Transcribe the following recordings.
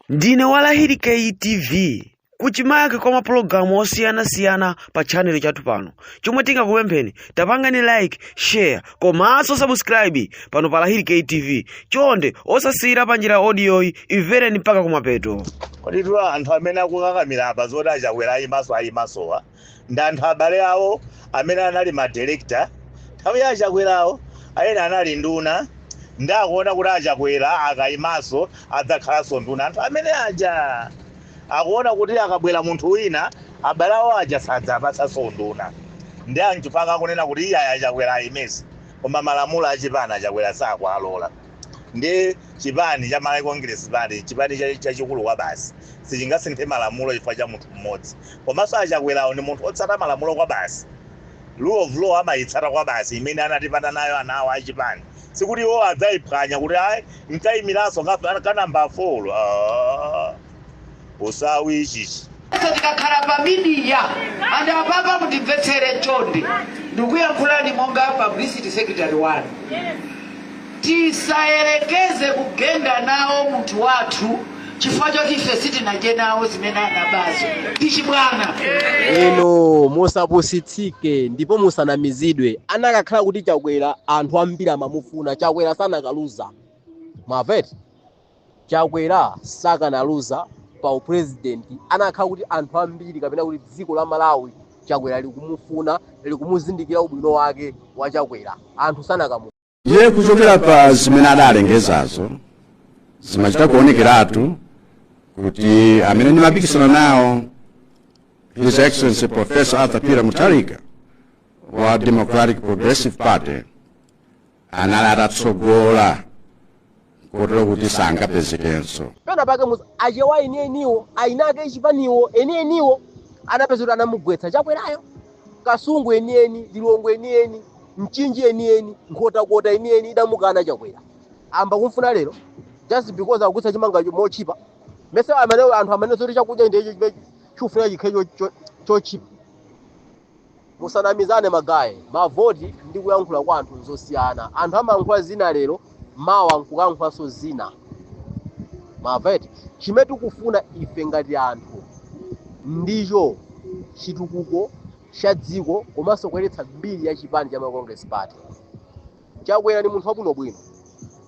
ndine wa lahiri ktv kuchimake kwa mapulogalamu osiyanasiyana pa chanelo chathu pano chomwe tingakupempheni tapangani like share komanso subscribe pano pa lahiri ktv chonde osasiyira pa njira odiyoyi imvereni mpaka kumapeto kodi tu anthu amene akukakamira apa zoti achakwera ayimenso ayimensowa ndi anthu abale awo amene anali madirekita nthawi ya achakwerawo ena anali nduna ndi akuona kuti achakwera akayimanso adzakhalanso nduna anthu amene aja akuona kuti akabwera munthu wina abale awo aja sadzawapatsanso unduna ndiye nchifukwa chake akunena kuti iyayi achakwera ayimenso koma malamulo achipani achakwera sakualola ndi chipani cha Malawi Congress Party chipani chachikulu kwabasi sichingasinthe malamulo chifukwa cha munthu mmodzi komanso a Chakwerawo ndi munthu otsata malamulo kwabasi rule of law amayitsata kwabasi imene anatipatsa nayo anthawo a chipani sikuti iwo adzayiphwanya kuti ayi nkayimiranso ka number 4 uh. usawi ichichi Sasa tikakhala pa midiya anthu apa mundimvetsere chonde ndikuyankhulani monga publicity secretary wanu tisayerekeze kugenda nawo munthu wathu chifukwa choti ife sitinadye nawo zimene anabazo ndi chibwana inu musapusitsike ndipo musanamizidwe anakakhala kuti chakwera anthu ambiri amamufuna chakwera sanakaluza mavoti Chakwera sakanaluza pa u president anakhala kuti anthu ambiri kapena kuti dziko la Malawi a Chakwera likumufuna likumuzindikira ubwino wake wa Chakwera anthu sanakamu. Ndiye kuchokera pa zimene adalengezazo zimachita kuonekeratu kuti amene ndimapikisana nawo His Excellency Professor Arthur Peter Mutharika wa Democratic Progressive Party anali atatsogola kotero kuti sangapezekenso pena pake achewa enieniwo eni ake a chipaniwo enieniwo anapeza kuti anamugwetsa chakwerayo kasungu enieni lilongwe enieni mchinji enieni nkhotakota enieni idamukana chakwera ayamba kumfuna lero just because akugwetsa chimanga cho- motchipa mese amene anthu amanena zoti chakudya ndiye chikufuna chikhale cho- cho- chotchipa musanamizane magaye mavoti ndi kuyankhula kwa anthu nzosiyana anthu amayankhula zina lero mawa nkukayankhulanso zina mavoti chimene tikufuna ife ngati anthu ndicho chitukuko cha dziko komanso kuyeretsa mbiri ya chipani cha malawi congress party chakwera ndi munthu wabwinobwino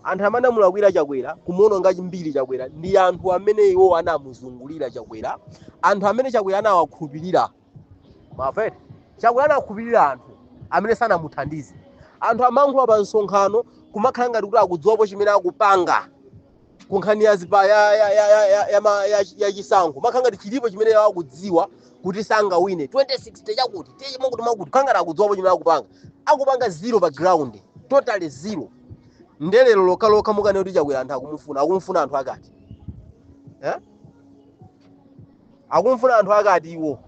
anthu amene anamulakwira chakwera kumuononga mbiri chakwera ndi anthu amene iwo anamuzungulira chakwera anthu amene chakwera anawakhulupirira maveti chakwera anakhulupirira anthu amene sanamuthandize anthu amankhula pa msonkhano kumakhala ngati kuti akudziwapo chimene akupanga ku nkhani ya zipa ya ya ya ya ya, ya, ma- ya, ya chisankho makhala ngati chilipo chimene iwo akudziwa kuti sangawine 2060 chakuti tiye makuti makuti khala ngati akudziwapo chimene akupanga akupanga zero pa ground totally zero ndelero lokha lokha mukane kuti chakwera anthu akumufuna akumufuna anthu ake ati eh? Akumufuna anthu ake ati iwo?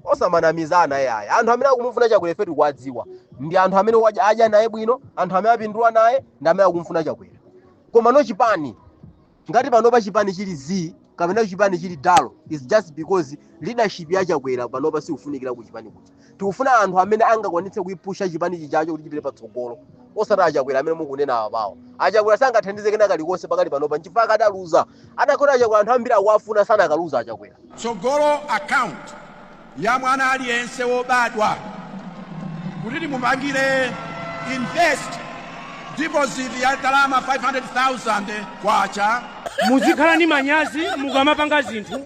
Osamanamizana yaya. Anthu amene akumufuna Chakwera ife tikuwadziwa. Ndi anthu amene wadya- adya naye bwino, anthu amene apindula naye, ndi amene akumufuna Chakwera. Komano chipani, ngati panopa chipani chili zii kapena chipani chili dalo, is just because leadership ya Chakwera panopa sikufunikira ku chipani kuja. tikufuna anthu amene angakwanitse kuipusha chipani chichacho kuti chipite patsogolo osati achakwera amene mukunena apapawo achakwera sangathandize kena kalikonse pakati panopa nchifukwa adaluza atakhota achakwera anthu ambiri akuwafuna sanakaluza achakwera tsogolo account ya mwana aliyense wobadwa kuti timupangire invest deposit ya ndalama 500,000 kwacha muzikhala ndi manyazi mukamapanga zinthu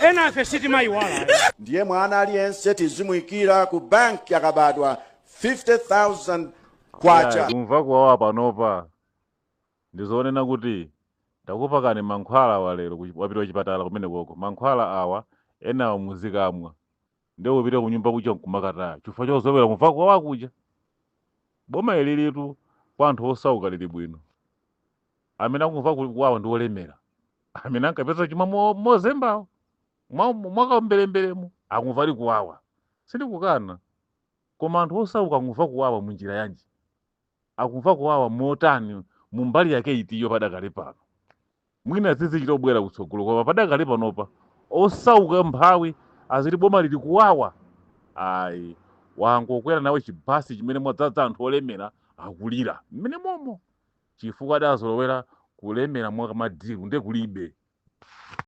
Enafe sitimaiwala ayi. Ndiye mwana aliyense tizimuikira ku banki akabadwa 50,000 Kwacha. Kumva kuwawa panopa ndizonena kuti takupakani mankhwala awa lero wapita kuchipatala kumenekoko mankhwala awa enawo muzikamwa. nde kupita kunyumba kuja nkumakataya chifukwa chozolowera kumva kuwawa kuja boma ilitu kwa anthu osauka lili bwino amene akumva ku- kuwawa ndi olemera amene ankapeza chuma mo- mozembawo mwa- mwakaomberemberemo akumva ali kuwawa sindikukana koma anthu osauka akumva kuwawa munjira yanji akumva kuwawa motani mu mbali yake itiyo padakali pano mwina zizichita kubwera kutsogolo koma padakali panopa osauka mphawi aziti boma ili kuwawa ayi wangokwera nawe chibasi chimene mwadzaza anthu olemera akulira mmene momo chifukwa adazolowera kulemera mwakamadiru nde kulibe